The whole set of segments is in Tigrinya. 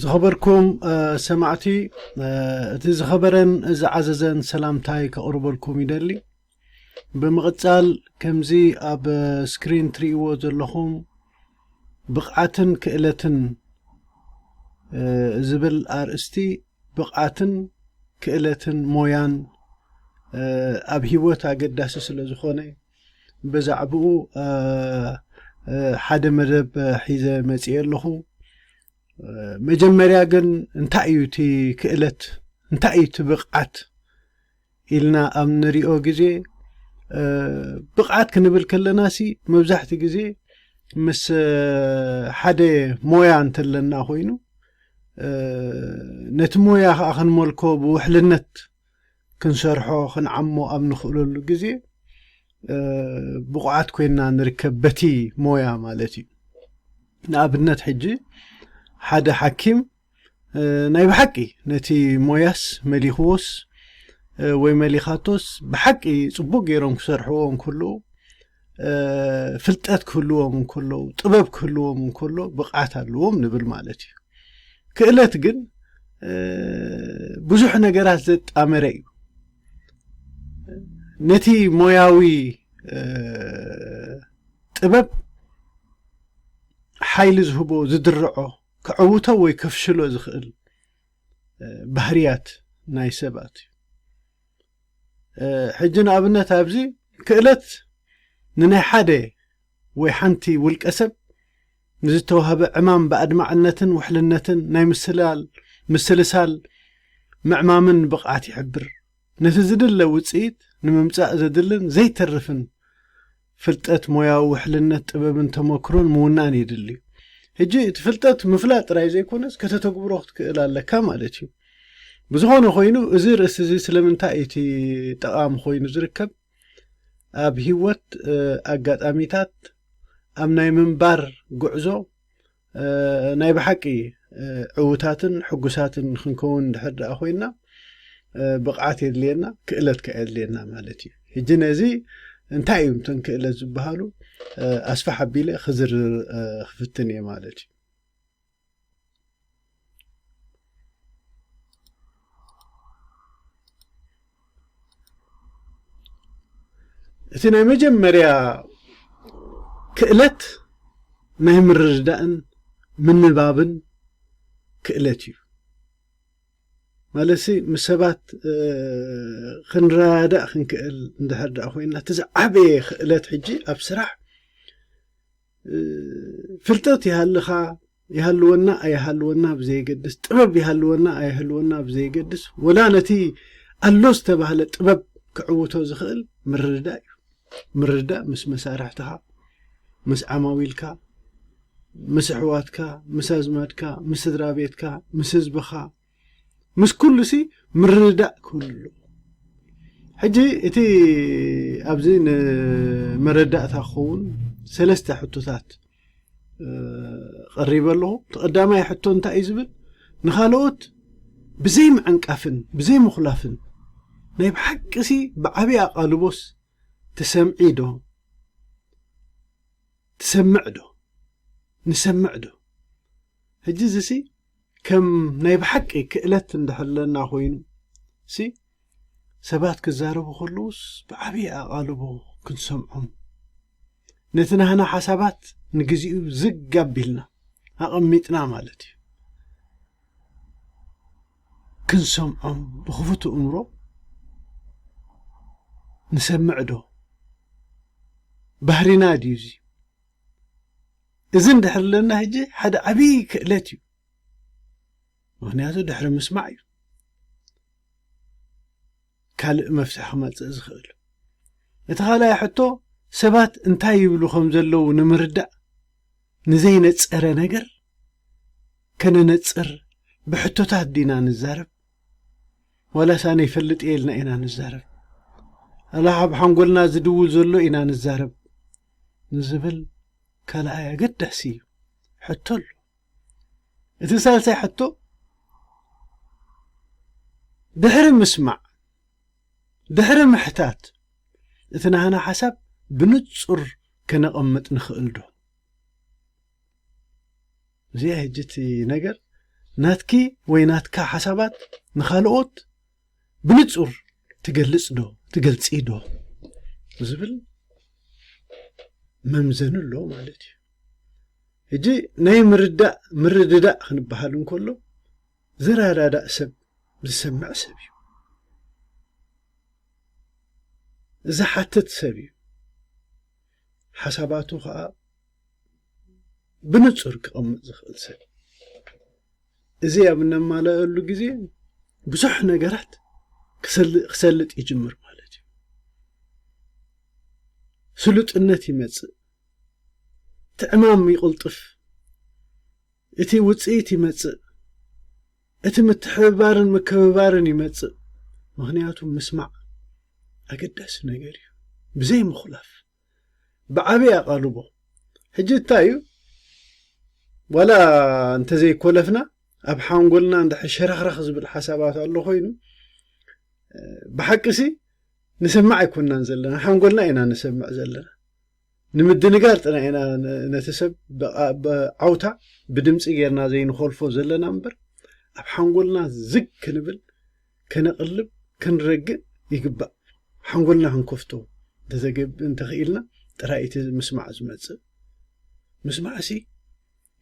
ዝኸበርኩም ሰማዕቲ እቲ ዝኸበረን ዝዓዘዘን ሰላምታይ ከቕርበልኩም ይደሊ ብምቕጻል ከምዚ ኣብ ስክሪን ትርእይዎ ዘለኹም ብቕዓትን ክእለትን ዝብል ኣርእስቲ ብቕዓትን ክእለትን ሞያን ኣብ ህይወት ኣገዳሲ ስለ ዝኾነ በዛዕብኡ ሓደ መደብ ሒዘ መጽኤ ኣለኹ መጀመርያ ግን እንታይ እዩ እቲ ክእለት እንታይ እዩ እቲ ብቕዓት ኢልና ኣብ ንሪኦ ግዜ ብቕዓት ክንብል ከለና ሲ መብዛሕትኡ ግዜ ምስ ሓደ ሞያ እንተለና ኮይኑ ነቲ ሞያ ከዓ ክንመልኮ ብውሕልነት ክንሰርሖ ክንዓሞ ኣብ ንኽእለሉ ግዜ ብቑዓት ኮይና ንርከብ በቲ ሞያ ማለት እዩ ንኣብነት ሕጂ ሓደ ሓኪም ናይ ብሓቂ ነቲ ሞያስ መሊኽዎስ ወይ መሊኻቶስ ብሓቂ ጽቡቕ ገይሮም ክሰርሕዎ እንክልኡ ፍልጠት ክህልዎም እንከለዉ ጥበብ ክህልዎም እንከሎ ብቕዓት ኣለዎም ንብል ማለት እዩ ክእለት ግን ብዙሕ ነገራት ዘጣመረ እዩ ነቲ ሞያዊ ጥበብ ሓይሊ ዝህቦ ዝድርዖ ክዕውቶ ወይ ከፍሽሎ ዝኽእል ባህርያት ናይ ሰባት እዩ ሕጂ ንኣብነት ኣብዚ ክእለት ንናይ ሓደ ወይ ሓንቲ ውልቀ ሰብ ንዝተዋህበ ዕማም ብኣድማዕነትን ውሕልነትን ናይ ምስላል፣ ምስልሳል፣ ምዕማምን ብቕዓት ይሕብር። ነቲ ዝድለ ውጽኢት ንምምጻእ ዘድልን ዘይተርፍን ፍልጠት ሞያዊ ውሕልነት ጥበብን ተመክሮን ምውናን የድሊ። ሕጂ እቲ ፍልጠት ምፍላጥ ጥራይ ዘይኮነስ ከተተግብሮ ክትክእል ኣለካ ማለት እዩ። ብዝኾነ ኮይኑ እዚ ርእሲ እዚ ስለምንታይ እቲ ጠቓሚ ኮይኑ ዝርከብ ኣብ ህይወት ኣጋጣሚታት ኣብ ናይ ምንባር ጉዕዞ ናይ ብሓቂ ዕውታትን ሕጉሳትን ክንከውን ድሕር ደኣ ኮይና ብቕዓት የድልየና ክእለት ከ የድልየና ማለት እዩ ሕጂ ነዚ እንታይ እዩ እተን ክእለት ዝበሃሉ ኣስፋሕ ኣቢለ ክዝርዝር ክፍትን እየ ማለት እዩ እቲ ናይ መጀመርያ ክእለት ናይ ምርድዳእን ምንባብን ክእለት እዩ ማለት ምስ ሰባት ክንረዳእ ክንክእል እንድሕር ደኣ ኮይንና እቲ ዝዓበየ ክእለት ሕጂ ኣብ ስራሕ ፍልጠት ይሃልኻ ይሃልወና ኣይሃልወና ብዘየገድስ ጥበብ ይሃልወና ኣይህልወና ብዘየገድስ ወላ ነቲ ኣሎ ዝተባህለ ጥበብ ክዕውቶ ዝኽእል ምርድዳእ እዩ ምርድዳእ ምስ መሳርሕትኻ ምስ ዓማዊልካ ምስ ኣሕዋትካ ምስ ኣዝማድካ ምስ ስድራ ቤትካ ምስ ህዝብኻ ምስ ኩሉሲ ምርድዳእ ክህሉ ኣለዎ ሕጂ እቲ ኣብዚ ንመረዳእታ ክኸውን ሰለስተ ሕቶታት ቀሪበ ኣለኹ እቲ ቀዳማይ ሕቶ እንታይ እዩ ዝብል ንካልኦት ብዘይ ምዕንቃፍን ብዘይ ምኹላፍን ናይ ብሓቂሲ ብዓብዪ ኣቓልቦስ ትሰምዒ ዶ ትሰምዕ ዶ ንሰምዕ ዶ ሕጂ እዚሲ ከም ናይ ብሓቂ ክእለት እንድሕለና ኮይኑ ሲ ሰባት ክዛረቡ ከለውስ ብዓብዪ ኣቓልቦ ክንሰምዖም ነቲ ናህና ሓሳባት ንግዚኡ ዝግ ኣቢልና ኣቐሚጥና ማለት እዩ ክንሰምዖም ብኽፉት እምሮ ንሰምዕ ዶ ባህሪና ድዩ እዚ እዚ እንድሕር ለና ሕጂ ሓደ ዓብዪ ክእለት እዩ ምክንያቱ ድሕሪ ምስማዕ እዩ ካልእ መፍትሒ ክመፅእ ዝኽእል እቲ ካልኣይ ሕቶ ሰባት እንታይ ይብሉ ከም ዘለዉ ንምርዳእ ንዘይነፀረ ነገር ከነነፅር ብሕቶታት ዲና ንዛረብ ዋላሳ ነይፈልጥ እየ ኢልና ኢና ንዛረብ ኣላሓብ ሓንጎልና ዝድውል ዘሎ ኢና ንዛረብ ንዝብል ካልኣይ ኣገዳሲ ሕቶ ኣሎ። እቲ ሳልሳይ ሕቶ ድሕሪ ምስማዕ ድሕሪ ምሕታት እቲ ናህና ሓሳብ ብንጹር ከነቐምጥ ንኽእል ዶ? እዚኣ ሕጂ እቲ ነገር ናትኪ ወይ ናትካ ሓሳባት ንኻልኦት ብንጹር ትገልጽ ዶ ትገልጺ ዶ ዝብል መምዘኒ ኣሎ ማለት እዩ ሕጂ ናይ ምርዳእ ምርድዳእ ክንበሃል እንከሎ ዝረዳዳእ ሰብ ዝሰምዕ ሰብ እዩ ዝሓትት ሰብ እዩ ሓሳባቱ ከኣ ብንጹር ክቐምጥ ዝኽእል ሰብ እዚ ኣብ እነማልኣሉ ግዜ ብዙሕ ነገራት ክሰልጥ ይጅምር ማለት እዩ። ስሉጥነት ይመጽእ፣ ትዕማም ይቕልጥፍ። እቲ ውፅኢት ይመፅእ። እቲ ምትሕብባርን ምክብባርን ይመፅእ። ምኽንያቱ ምስማዕ ኣገዳሲ ነገር እዩ። ብዘይ ምኹላፍ ብዓብይ ኣቓልቦ ሕጂ እንታይ እዩ ዋላ እንተዘይኮለፍና ኣብ ሓንጎልና እንድሕር ሸረኽረኽ ዝብል ሓሳባት ኣሎ ኮይኑ ብሓቂሲ ንሰማዕ ኣይኮናን ዘለና ሓንጎልና ኢና ንሰምዕ ዘለና ንምድንጋር ጥራይ ኢና ነቲ ሰብ ብዓውታ ብድምጺ ጌርና ዘይንኾልፎ ዘለና እምበር ኣብ ሓንጎልና ዝግ ክንብል ከነቕልብ ክንረግእ ይግባእ ሓንጎልና ክንከፍቶ እንተኽኢልና ጥራይ እቲ ምስማዕ ዝመጽእ ምስማዕሲ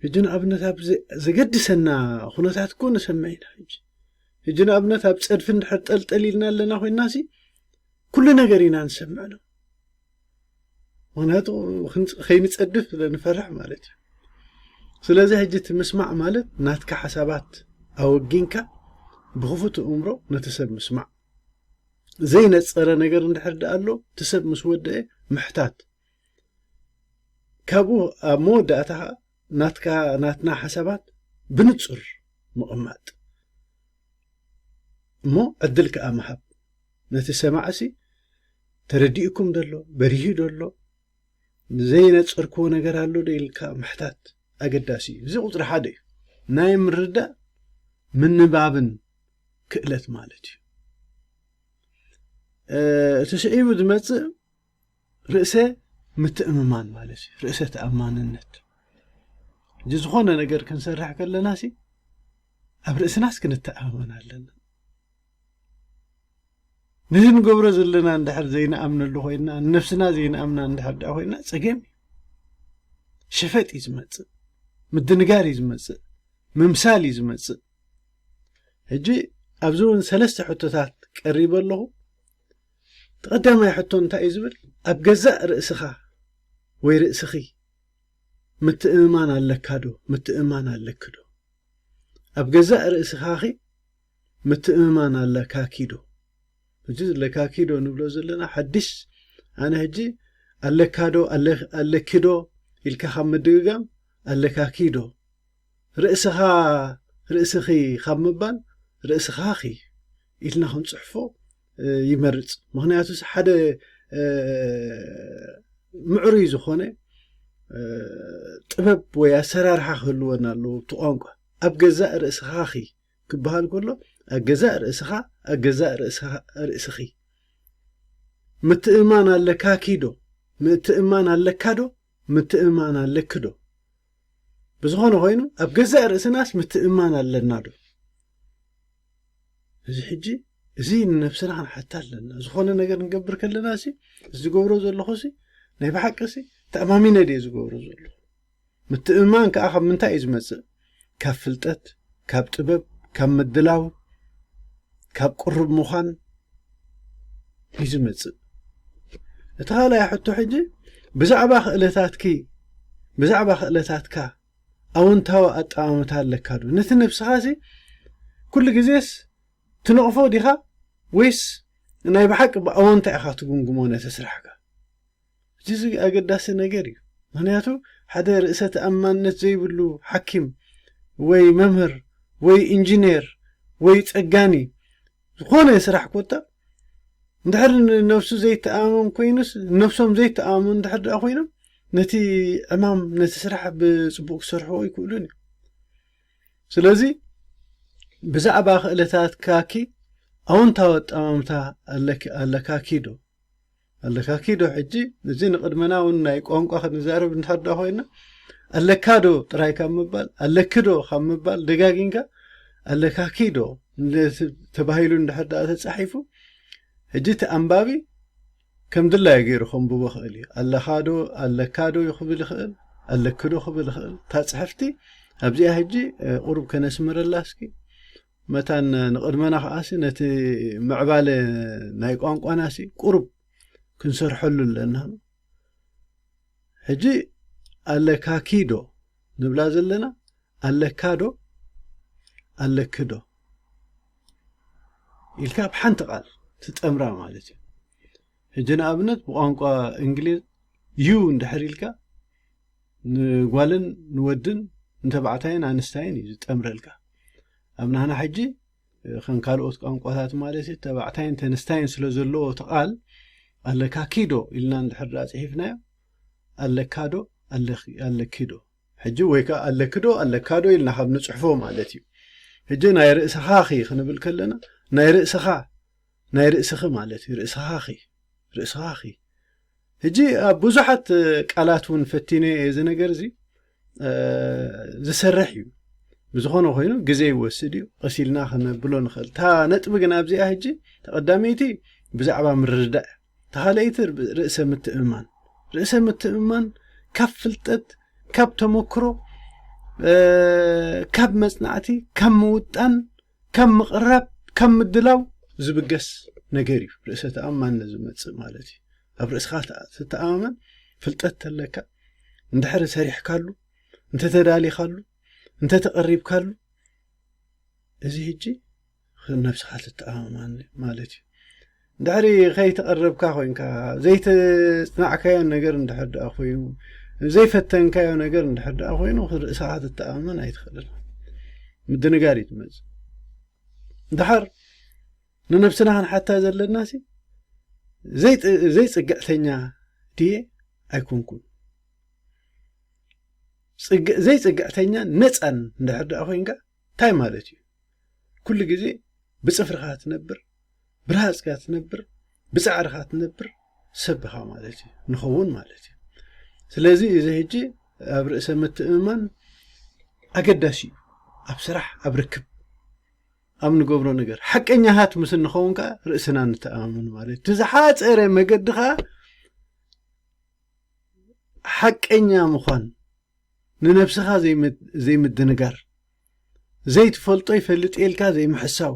ሕጂ ንኣብነት ኣብ ዘገድሰና ኩነታት እኮ ንሰምዕ ኢና ሕጂ ሕጂ ንኣብነት ኣብ ጸድፊ እንድሕር ጠልጠል ኢልና ኣለና ኮይናሲ ኩሉ ነገር ኢና ንሰምዕ ነው ምክንያቱ ከይንፀድፍ ስለ ንፈርሕ ማለት እዩ ስለዚ ሕጂ እቲ ምስማዕ ማለት ናትካ ሓሳባት ኣወጊንካ ብክፉት እምሮ ነቲ ሰብ ምስማዕ ዘይነፀረ ነገር እንድሕር ድኣ ኣሎ እቲ ሰብ ምስ ወደአ ምሕታት ካብኡ ኣብ መወዳእታ ከዓ ናትካ ናትና ሓሳባት ብንጹር ምቕማጥ እሞ ዕድል ከኣ ምሃብ ነቲ ሰማዕሲ ተረዲኡኩም ደሎ በሪሁ ደሎ ዘይነጸርክዎ ነገር ኣሎ ዶ ኢልካ ምሕታት ኣገዳሲ እዩ እዚ ቁጽሪ ሓደ እዩ ናይ ምርዳእ ምንባብን ክእለት ማለት እዩ እቲ ስዒቡ ዝመጽእ ርእሰ ምትእምማን ማለት እዩ ርእሰ ተኣማንነት እዚ ዝኾነ ነገር ክንሰርሕ ከለና ሲ ኣብ ርእስናስ ክንተኣማመን ኣለና ነዚ ንገብሮ ዘለና እንድሕር ዘይንኣምነሉ ኮይና ንነብስና ዘይንኣምና እንድሕር ድኣ ኮይና ፀገም እዩ ሸፈጥ እዩ ዝመፅእ ምድንጋር እዩ ዝመፅእ ምምሳል እዩ ዝመፅእ ሕጂ ኣብዚ እውን ሰለስተ ሕቶታት ቀሪበ ኣለኹ እቲ ቀዳማይ ሕቶ እንታይ እዩ ዝብል፣ ኣብ ገዛእ ርእስኻ ወይ ርእስኺ ምትእምማን ኣለካዶ? ምትእምማን ኣለኪዶ? ኣብ ገዛእ ርእስኻኺ ምትእምማን ኣለካኪዶ? ሕጂ ኣለካኪዶ ንብሎ ዘለና ሓድሽ ኣነ ሕጂ ኣለካዶ ኣለኪዶ ኢልካ ካብ ምድግጋም ኣለካኪዶ ርእስኻ ርእስኺ ካብ ምባል ርእስኻኺ ኢልና ክንጽሕፎ ይመርፅ ምክንያቱስ ሓደ ምዕሩይ ዝኾነ ጥበብ ወይ ኣሰራርሓ ክህልወና ኣለዎ እቲ ቋንቋ ኣብ ገዛእ ርእስኻ ኺ ክበሃል ከሎ ኣብ ገዛእ ርእስኻ ኣብ ገዛእ ርእስኺ ምትእማን ኣለካ ኪዶ ምትእማን ኣለካ ዶ ምትእምማን ኣለኪ ዶ? ብዝኾነ ኾይኑ ኣብ ገዛእ ርእስናስ ምትእምማን ኣለና ዶ? እዚ ሕጂ እዚ ንነብስና ክንሓታ ኣለና ዝኾነ ነገር ንገብር ከለና ሲ ዝገብሮ ዘለኹ ሲ ናይ ብሓቂ ሲ ተኣማሚነ ድየ ዝገብሮ ዘለኹ ምትእምማን ከዓ ካብ ምንታይ እዩ ዝመፅእ ካብ ፍልጠት ካብ ጥበብ ካብ ምድላው ካብ ቅሩብ ምዃን እዩ ዝመጽእ እቲ ካልኣይ ሕቶ ሕጂ ብዛዕባ ክእለታትኪ ብዛዕባ ክእለታትካ ኣውንታዊ ኣጠማምታ ኣለካ ዶ ነቲ ነብስኻ ሲ ኩሉ ግዜስ ትነቕፎ ዲኻ ወይስ ናይ ብሓቂ ብኣወንታ ኢኻ ትጉምግሞ ነቲ ስራሕካ ጅዚ ኣገዳሲ ነገር እዩ ምክንያቱ ሓደ ርእሰ ተኣማንነት ዘይብሉ ሓኪም ወይ መምህር ወይ እንጂኔር ወይ ጸጋኒ ዝኾነ ስራሕ ኮታ እንድሕር ንነብሱ ዘይተኣማመን ኮይኑስ ነብሶም ዘይተኣማመኑ እንድሕር ደኣ ኮይኖም ነቲ ዕማም ነቲ ስራሕ ብጽቡቅ ክሰርሕዎ ኣይክእሉን እዮም ስለዚ ብዛዕባ ክእለታትካኪ ኣወንታዊ ኣጠማምታ ኣለካኪ ዶ ኣለካኪ ዶ ሕጂ እዚ ንቅድመና ውን ናይ ቋንቋ ክንዛረብ እንድሕር ዳ ኮይና ኣለካ ዶ ጥራይ ካብ ምባል ኣለኪ ዶ ካብ ምባል ደጋጊንካ ኣለካኪ ዶ ተባሂሉ እንድሕር ዳኣ ተጻሒፉ ሕጂ እቲ ኣንባቢ ከም ድላዩ ገይሩ ከንብቦ ክእል እዩ ኣለካ ዶ ኣለካ ዶ ክብል ይክእል ኣለኪ ዶ ክብል ይክእል እታ ጽሕፍቲ ኣብዚኣ ሕጂ ቁሩብ ከነስምረላ እስኪ መታን ንቕድመና ከኣሲ ነቲ ምዕባለ ናይ ቋንቋናሲ ቁሩብ ክንሰርሐሉ ኣለና ሕጂ ኣለካኪዶ ንብላ ዘለና ኣለካዶ ኣለክዶ ኢልካ ብ ሓንቲ ቓል ትጠምራ ማለት እዩ ሕጂ ንኣብነት ብቋንቋ እንግሊዝ you እንድሕር ኢልካ ንጓልን ንወድን ንተባዕታይን ኣንስታይን እዩ ዝጠምረልካ ኣብ ናህና ሕጂ ከም ካልኦት ቋንቋታት ማለት እዩ ተባዕታይን ተንስታይን ስለ ዘለዎ እቲ ቃል ኣለካ ኪዶ ኢልና እንድሕር ድኣ ጽሒፍናዮ ኣለካ ዶ ኣለኪ ዶ ሕጂ ወይ ከዓ ኣለኪ ዶ ኣለካ ዶ ኢልና ካብ ንጽሕፎ ማለት እዩ ሕጂ ናይ ርእስኻ ኺ ክንብል ከለና ናይ ርእስኻ ናይ ርእስኺ ማለት እዩ ርእስኻኺ ርእስኻኺ ሕጂ ኣብ ብዙሓት ቃላት እውን ፈቲነ እየ እዚ ነገር እዚ ዝሰርሕ እዩ ብዝኾነ ኮይኑ ግዜ ይወስድ እዩ ቐሲልና ከነብሎ ንኽእል እታ ነጥቢ ግን ኣብዚኣ ሕጂ ተቐዳመይቲ ብዛዕባ ምርድዳእ ተኻለይቲ ርእሰ ምትእምማን ርእሰ ምትእምማን ካብ ፍልጠት ካብ ተመክሮ ካብ መጽናዕቲ ካብ ምውጣን ከም ምቕራብ ከም ምድላው ዝብገስ ነገር እዩ ርእሰ ተኣማንነት ዝመጽእ ማለት እዩ ኣብ ርእስኻ ትተኣማመን ፍልጠት ተለካ እንድሕሪ ሰሪሕካሉ እንተተዳሊኻሉ እንተተቐሪብካሉ እዚ ህጂ ነብስኻ ትተኣማማን ማለት እዩ ድሕሪ ከይተቐረብካ ኮይንካ፣ ዘይተጽናዕካዮ ነገር እንድሕር ደኣ ኮይኑ፣ ዘይፈተንካዮ ነገር እንድሕር ደኣ ኮይኑ፣ ርእሰኻ ክትተኣማመን ኣይትኽእልን። ምድንጋር እዩ ዝመጽእ። ድሓር ንነብስና ክንሓታ ዘለናሲ ዘይጽግዕተኛ ድየ ኣይኮንኩን ዘይጽግዕተኛን ነፃን እንድሕር ደኣ ኮይንካ እንታይ ማለት እዩ ኩሉ ግዜ ብፅፍርኻ ትነብር ብርሃጽካ ትነብር ብጻዕርካ ትነብር ሰብ ኢኻ ማለት እዩ ንኸውን ማለት እዩ ስለዚ እዚ ሕጂ ኣብ ርእሰ ምትእምማን ኣገዳሲ እዩ ኣብ ስራሕ ኣብ ርክብ ኣብ ንገብሮ ነገር ሓቀኛታት ምስ እንኸውን ከዓ ርእስና ንተኣማመን ማለት እቲ ዝሓፀረ መገዲ ከዓ ሓቀኛ ምዃን ንነብስኻ ዘይምድንጋር ዘይትፈልጦ ይፈልጥ ኢልካ ዘይምሕሳው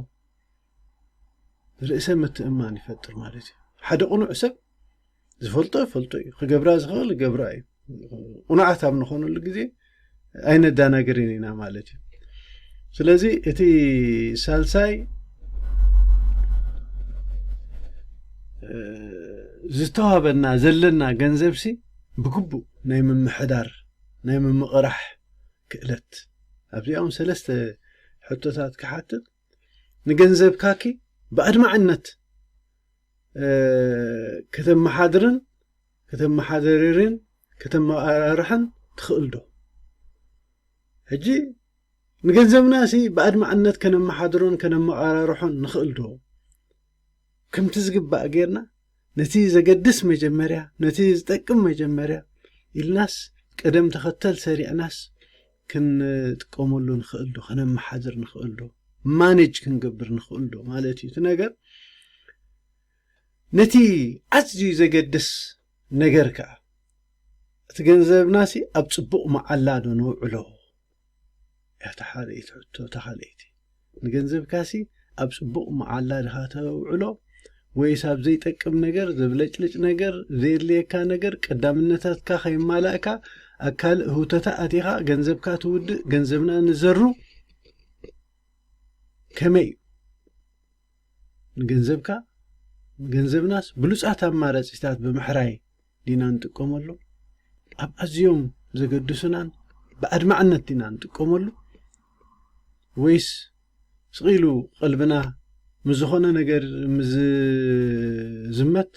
ርእሰ ምትእምማን ይፈጥር ማለት እዩ። ሓደ ቅኑዕ ሰብ ዝፈልጦ ይፈልጦ እዩ፣ ክገብራ ዝኽእል ይገብራ እዩ። ቅኑዓት ኣብ ንኾነሉ ግዜ ኣይነዳናግርን ኢና ማለት እዩ። ስለዚ እቲ ሳልሳይ ዝተዋህበና ዘለና ገንዘብሲ ብግቡእ ናይ ምምሕዳር ናይ ምምቕራሕ ክእለት ኣብዚኦም ሰለስተ ሕቶታት ክሓትት ንገንዘብካኪ ብኣድማዕነት ከተመሓድርን ከተመሓደርርን ከተመራርሕን ትኽእል ዶ? ሕጂ ንገንዘብናሲ ብኣድማዕነት ከነመሓድሮን ከነመቓራርሖን ንኽእል ዶ? ከምቲ ዝግባእ ጌርና ነቲ ዘገድስ መጀመርያ ነቲ ዝጠቅም መጀመርያ ኢልናስ ቅደም ተኸተል ሰሪዕናስ ክንጥቀመሉ ንኽእል ዶ ከነመሓድር ንኽእል ዶ ማኔጅ ክንገብር ንኽእል ዶ ማለት እዩ እቲ ነገር ነቲ ኣዝዩ ዘገድስ ነገር ከኣ እቲ ገንዘብናሲ ኣብ ጽቡቕ መዓላ ዶ ነውዕሎ እታ ኻልእይቲ ሕቶ እታ ኻልእይቲ ንገንዘብካሲ ኣብ ጽቡቕ መዓላ ድኻ ተውዕሎ ወይስ ኣብ ዘይጠቅም ነገር ዘብለጭልጭ ነገር ዘየድልየካ ነገር ቀዳምነታትካ ከይማላእካ ኣብ ካልእ ህውተታ ኣቲኻ ገንዘብካ ትውድእ ገንዘብና ንዘሩ ከመይ እዩ ንገንዘብካ ገንዘብናስ ብሉጻት ኣማራጺታት ብምሕራይ ዲና ንጥቀመሉ፣ ኣብ ኣዝዮም ዘገድሱናን ብኣድማዕነት ዲና ንጥቀመሉ ወይስ ስቕ ኢሉ ቐልብና ምስ ዝኾነ ነገር ምስ ዝዝመት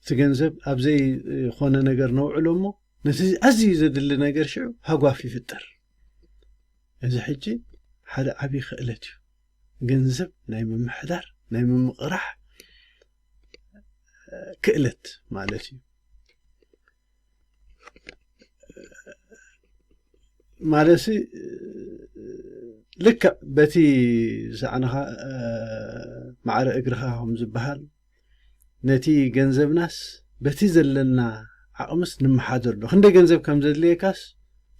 እቲ ገንዘብ ኣብ ዘይኾነ ነገር ነውዕሎ እሞ ነቲ ኣዝዩ ዘድሊ ነገር ሽዑ ሃጓፍ ይፍጠር። እዚ ሕጂ ሓደ ዓብዪ ክእለት እዩ። ገንዘብ ናይ ምምሕዳር ናይ ምምቕራሕ ክእለት ማለት እዩ ማለሲ ልክዕ በቲ ዝሰዕንኻ ማዕረ እግርኻ ከም ዝበሃል ነቲ ገንዘብናስ በቲ ዘለና ዓቕምስ ንመሓደር ዶ ክንደይ ገንዘብ ከም ዘድልየካስ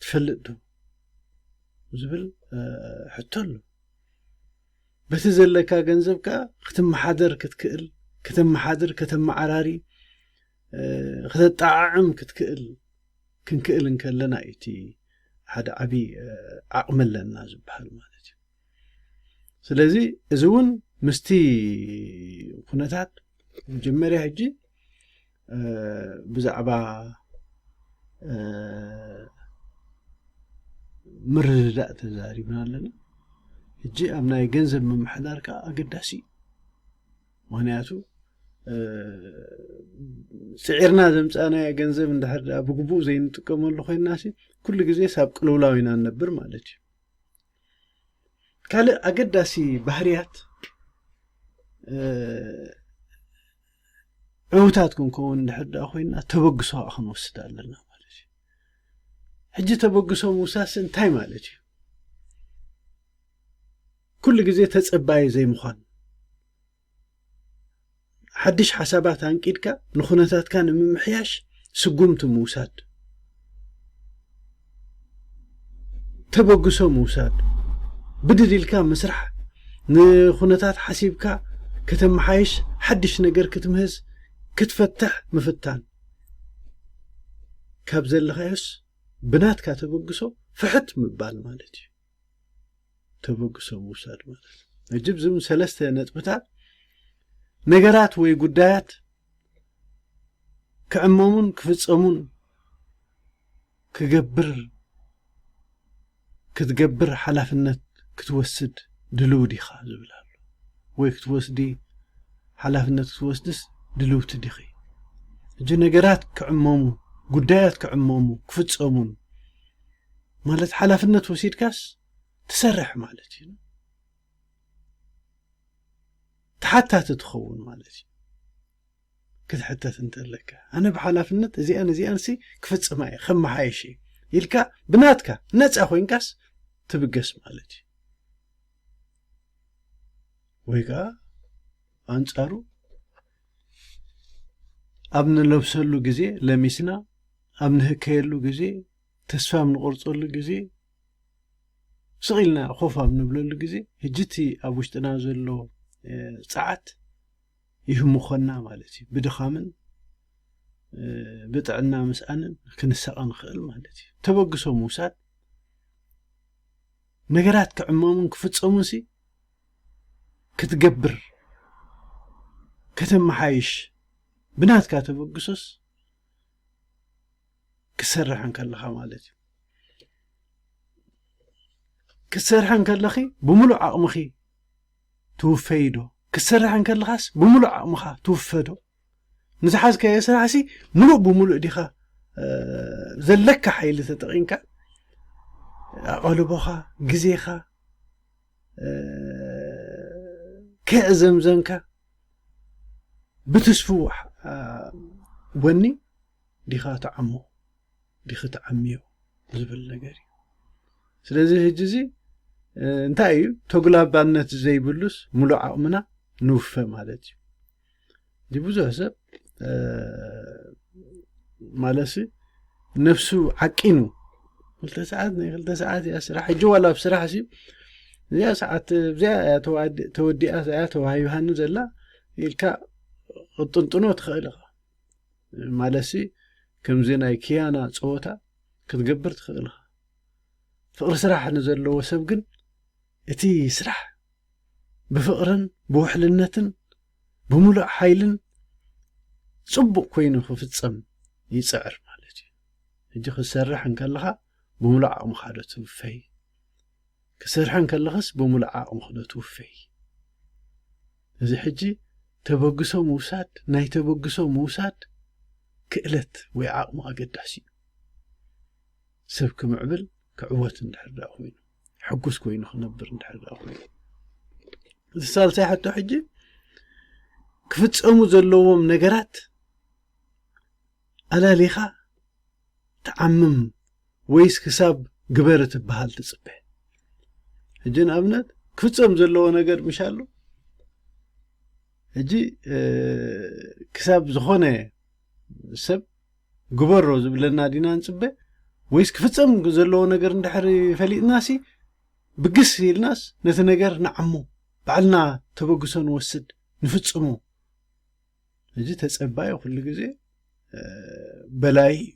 ትፈልጥ ዶ ዝብል ሕቶ ኣሎ በቲ ዘለካ ገንዘብ ከኣ ክትመሓደር ክትክእል ከተመሓድር ከተመዓራሪ ክተጠዓዕም ክትክእል ክንክእል እንከለና እዩ እቲ ሓደ ዓቢ ዓቕሚ ኣለና ዝበሃል ማለት እዩ። ስለዚ እዚ እውን ምስቲ ኩነታት መጀመርያ ሕጂ ብዛዕባ ምርድዳእ ተዛሪብና ኣለና ሕጂ ኣብ ናይ ገንዘብ ምምሕዳር ከዓ ኣገዳሲ እዩ ምክንያቱ ስዒርና ዘምፃእናዮ ገንዘብ እንድሕር ድኣ ብግቡእ ዘይንጥቀመሉ ኮይንና ኩሉ ግዜ ሳብ ቅልውላው ኢና ንነብር ማለት እዩ ካልእ ኣገዳሲ ባህርያት ዕውታት ክንከውን እንድሕር ደኣ ኮይና ተበግሶ ከዓ ክንወስድ ኣለና ማለት እዩ ሕጂ ተበግሶ ምውሳስ እንታይ ማለት እዩ ኩሉ ግዜ ተፀባይ ዘይምዃን ሓድሽ ሓሳባት ኣንቂድካ ንኩነታትካ ንምምሕያሽ ስጉምቲ ምውሳድ፣ ተበግሶ ምውሳድ፣ ብድድ ኢልካ ምስራሕ፣ ንኩነታት ሓሲብካ ከተመሓይሽ፣ ሓድሽ ነገር ክትምህዝ፣ ክትፈትሕ ምፍታን፣ ካብ ዘለኻዮስ ብናትካ ተበግሶ ፍሕት ምባል ማለት እዩ። ተበግሶ ምውሳድ ማለት እዩ ሕጂ ብዝም ሰለስተ ነጥብታት ነገራት ወይ ጉዳያት ክዕመሙን ክፍፀሙን ክገብር ክትገብር ሓላፍነት ክትወስድ ድልው ዲኻ ዝብል ኣሎ ወይ ክትወስዲ ሓላፍነት ክትወስድስ ድልውቲ ዲኺ ሕጂ ነገራት ክዕመሙ ጉዳያት ክዕመሙ ክፍፀሙን ማለት ሓላፍነት ወሲድካስ ትሰርሕ ማለት እዩ ተሓታቲ ትኸውን ማለት እዩ ክትሕተት እንተለካ ኣነ ብሓላፍነት እዚኣን እዚኣን ሲ ክፍፅማ እየ ከመሓየሽ እየ ኢልካ ብናትካ ነፃ ኮንካስ ትብገስ ማለት እዩ ወይ ከዓ ኣንፃሩ ኣብ ንለብሰሉ ግዜ ለሚስና ኣብ ንህከየሉ ግዜ ተስፋ ኣብ ንቆርጸሉ ግዜ ስቕ ኢልና ኮፍ ኣብ ንብለሉ ግዜ ሕጂ እቲ ኣብ ውሽጥና ዘሎ ጸዓት ይህምኾና ማለት እዩ ብድኻምን ብጥዕና ምስኣንን ክንሳቐ ንኽእል ማለት እዩ ተበግሶ ምውሳድ ነገራት ክዕመሙን ክፍፀሙን ሲ ክትገብር ከተመሓይሽ ብናትካ ተበግሶስ ክትሰርሕ እንከለኻ ማለት እዩ ክትሰርሕ እንከለኺ ብምሉእ ዓቕምኺ ትውፈይ ዶ ክትሰርሕ እንከለኻስ ብምሉእ ዓቕምኻ ትውፈ ዶ ንዝሓዝካዮ ስራሕሲ ምሉእ ብምሉእ ዲኻ ዘለካ ሓይሊ ተጠቒምካ ኣቐልቦኻ ግዜኻ ከየዕዘምዘምካ ብትስፍው ወኒ ዲኻ ትዓሞ ዲኺ ትዓምዮ ዝብል ነገር እዩ ስለዚ ህጂ እዚ እንታይ እዩ ተጉላባነት ዘይብሉስ ሙሉእ ዓቕምና ንውፈ ማለት እዩ እዚ ብዙሕ ሰብ ማለሲ ነፍሱ ዓቂኑ ክልተ ሰዓት ናይ ክልተ ሰዓት እያ ስራሕ ሕጂ ዋላ ኣብ ስራሕ ሲ እዚኣ ሰዓት እዚኣ እያ ተወዲኣ እያ ተዋሂብሃኒ ዘላ ኢልካ ቅጥንጥኖ ትኽእል ኢኻ ማለትሲ ከምዚ ናይ ክያና ፀወታ ክትገብር ትኽእል ኢኻ ፍቕሪ ስራሕ ንዘለዎ ሰብ ግን እቲ ስራሕ ብፍቕርን ብውሕልነትን ብምሉእ ሓይልን ፅቡቕ ኮይኑ ክፍፀም ይፅዕር ማለት እዩ ሕጂ ክትሰርሕ እንከለኻ ብምሉእ ዓቕምኻ ዶ ትውፈይ ክሰርሐ እንከለኽስ ብምሉእ ዓቕምኺ ዶ ትውፈዪ? እዚ ሕጂ ተበግሶ ምውሳድ ናይ ተበግሶ ምውሳድ ክእለት ወይ ዓቕሚ ኣገዳሲ እዩ። ሰብ ክምዕብል ክዕወት እንድሕር ድኣ ኮይኑ ሕጉስ ኮይኑ ክነብር እንድሕር ድኣ ኮይኑ እዚ ሳልሳይ ሕቶ ሕጂ ክፍጸሙ ዘለዎም ነገራት ኣላሊኻ ትዓምም ወይስ ክሳብ ግበር ትበሃል ትጽበ ሕጂ ንኣብነት ክፍጸም ዘለዎ ነገር ምሽ ኣሎ ሕጂ ክሳብ ዝኾነ ሰብ ግበሮ ዝብለና ዲና ንጽበ ወይስ ክፍጸም ዘለዎ ነገር እንድሕሪ ፈሊጥናሲ ብግስ ኢልናስ ነቲ ነገር ንዓሞ ባዕልና ተበግሶ ንወስድ ንፍጽሞ እዚ ተጸባዩ ኩሉ ግዜ በላይ እዩ፣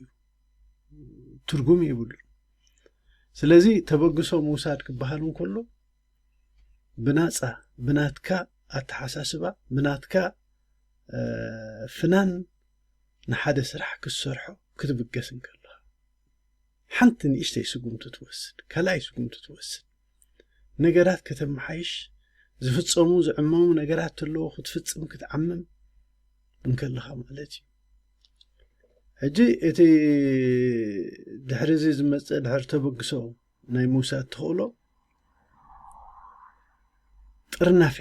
ትርጉም ይብሉ። ስለዚ ተበግሶ ምውሳድ ክበሃል እንከሎ ብናጻ ብናትካ ኣተሓሳስባ ብናትካ ፍናን ንሓደ ስራሕ ክትሰርሖ ክትብገስ እንከለኻ ሓንቲ ንእሽተይ ስጉምቲ ትወስድ፣ ካልኣይ ስጉምቲ ትወስድ። ነገራት ከተመሓይሽ ዝፍጸሙ ዝዕመሙ ነገራት ተለዉ ክትፍጽም ክትዓምም እንከለኻ ማለት እዩ ሕጂ እቲ ድሕሪ እዚ ዝመፅእ ድሕሪ ተበግሶ ናይ ምውሳድ ተኽእሎ ጥርናፌ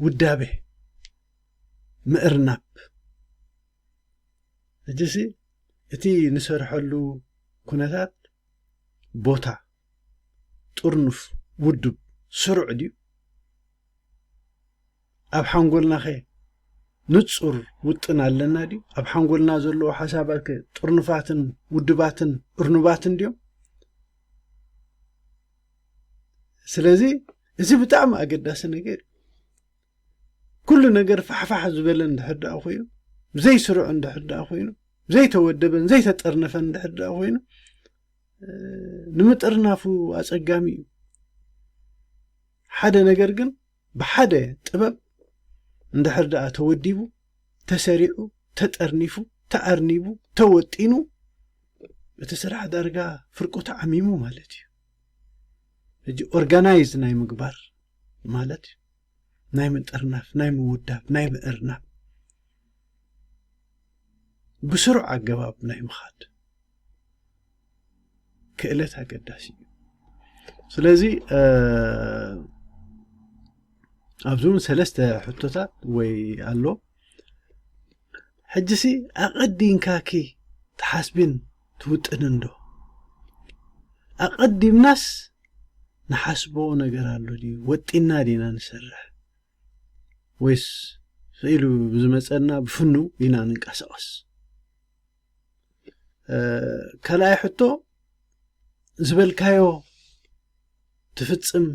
ውዳቤ ምእርናብ ሕጂሲ እቲ ንሰርሐሉ ኩነታት ቦታ ጥርኑፍ ውዱብ ስሩዕ ድዩ? ኣብ ሓንጎልናኸ ንጹር ውጥን ኣለና ድዩ? ኣብ ሓንጎልና ዘለዉ ሓሳባትከ ጥርኑፋትን ውዱባትን እርኑባትን ድዮም? ስለዚ እዚ ብጣዕሚ ኣገዳሲ ነገር እዩ። ኩሉ ነገር ፋሕፋሕ ዝበለ እንድሕር ደኣ ኮይኑ ዘይስሩዕ እንድሕር ደኣ ኮይኑ ዘይተወደበን ዘይተጠርነፈን እንድሕር ደኣ ኮይኑ ንምጥርናፉ ኣጸጋሚ እዩ ሓደ ነገር ግን ብሓደ ጥበብ እንድሕር ደኣ ተወዲቡ ተሰሪዑ ተጠርኒፉ ተኣርኒቡ ተወጢኑ እቲ ስራሕ ዳርጋ ፍርቁ ተዓሚሙ ማለት እዩ ሕጂ ኦርጋናይዝ ናይ ምግባር ማለት እዩ ናይ ምጥርናፍ ናይ ምውዳብ ናይ ምእርናብ ብስሩዕ ኣገባብ ናይ ምኻድ ክእለት ኣገዳሲ እዩ ስለዚ ኣብዚ እውን ሰለስተ ሕቶታት ወይ ኣሎ ሕጂሲ ኣቐዲንካኪ ትሓስቢን ትውጥንን ዶ ኣቐዲምናስ ንሓስቦ ነገር ኣሎ ድዩ ወጢና ዲና ንሰርሕ ወይስ ክኢሉ ብዝመፀና ብፍኑ ኢና ንንቀሳቐስ ካልኣይ ሕቶ ዝበልካዮ ትፍፅም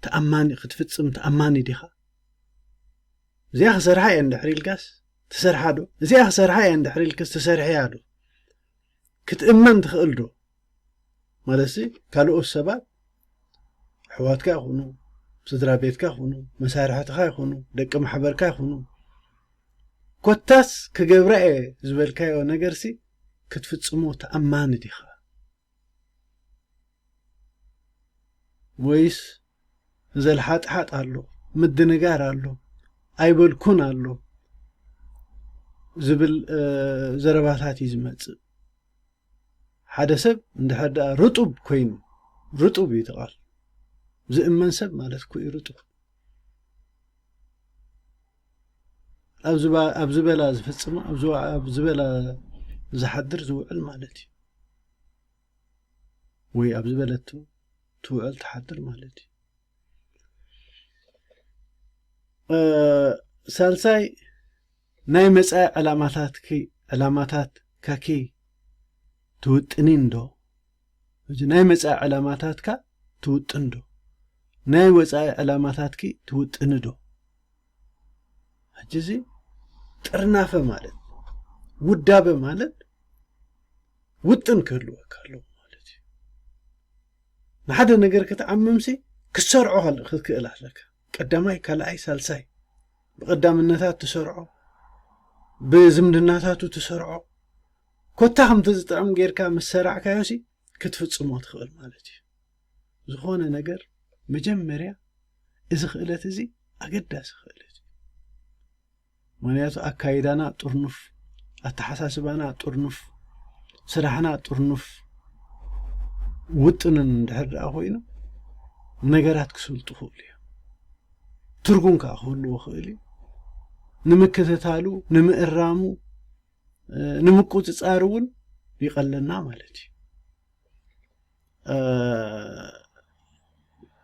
ተኣማኒ ክትፍፅም ተኣማኒ ዲኻ እዚኣ ክሰርሓ እየ እንድሕሪ ኢልካስ ትሰርሓ ዶ እዚኣ ክሰርሓ እየ እንድሕሪ ኢልክስ ትሰርሕያ ዶ ክትእመን ትኽእል ዶ ማለት ሲ ካልኦት ሰባት ኣሕዋትካ ይኹኑ ስድራ ቤትካ ይኹኑ መሳርሕትኻ ይኹኑ ደቂ ማሕበርካ ይኹኑ ኮታስ ክገብራ እየ ዝበልካዮ ነገር ሲ ክትፍጽሞ ተኣማኒ ዲኻ ወይስ ዘልሓጥሓጥ ኣሎ ምድንጋር ኣሎ ኣይበልኩን ኣሎ ዝብል ዘረባታት እዩ ዝመጽእ ሓደ ሰብ እንድሕር ደኣ ርጡብ ኮይኑ፣ ርጡብ እዩ እቲ ቃል፣ ዝእመን ሰብ ማለት እኮ እዩ ርጡብ። ኣብ ዝበላ ዝፍጽማ ኣብ ዝበላ ዝሓድር ዝውዕል ማለት እዩ ወይ ኣብ ዝበለት ትውዕል ትሓድር ማለት እዩ። ሳልሳይ ናይ መፃኢ ዕላማታትኪ ዕላማታትኪ ትውጥኒን ዶ ናይ መፃኢ ዕላማታትካ ትውጥን ዶ ናይ ወፃኢ ዕላማታትኪ ትውጥኒ ዶ ሕጂ እዚ ጥርናፈ ማለት ውዳበ ማለት ውጥን ክህልወካ ኣለዎ ማለት እዩ ንሓደ ነገር ክትዓምምሲ ክትሰርዖ ክትክእል ኣለካ ቀዳማይ ካልኣይ ሳልሳይ ብቐዳምነታት ትሰርዖ ብዝምድናታቱ ትሰርዖ ኮታ ከምቲ ዝጥዕም ጌርካ ምስ ሰራዕካዮሲ ክትፍጽሞ ትኽእል ማለት እዩ ዝኾነ ነገር መጀመርያ እዚ ክእለት እዚ ኣገዳሲ ክእለት እዩ ምክንያቱ ኣካይዳና ጥርኑፍ፣ ኣተሓሳስባና ጥርኑፍ፣ ስራሕና ጥርኑፍ ውጥንን እንድሕር ደኣ ኮይኑ ነገራት ክስልጡ ክእሉ እዮም። ትርጉም ከዓ ክህልዎ ክእል እዩ። ንምክትታሉ፣ ንምእራሙ፣ ንምቁፅፃር እውን ይቐለና ማለት እዩ።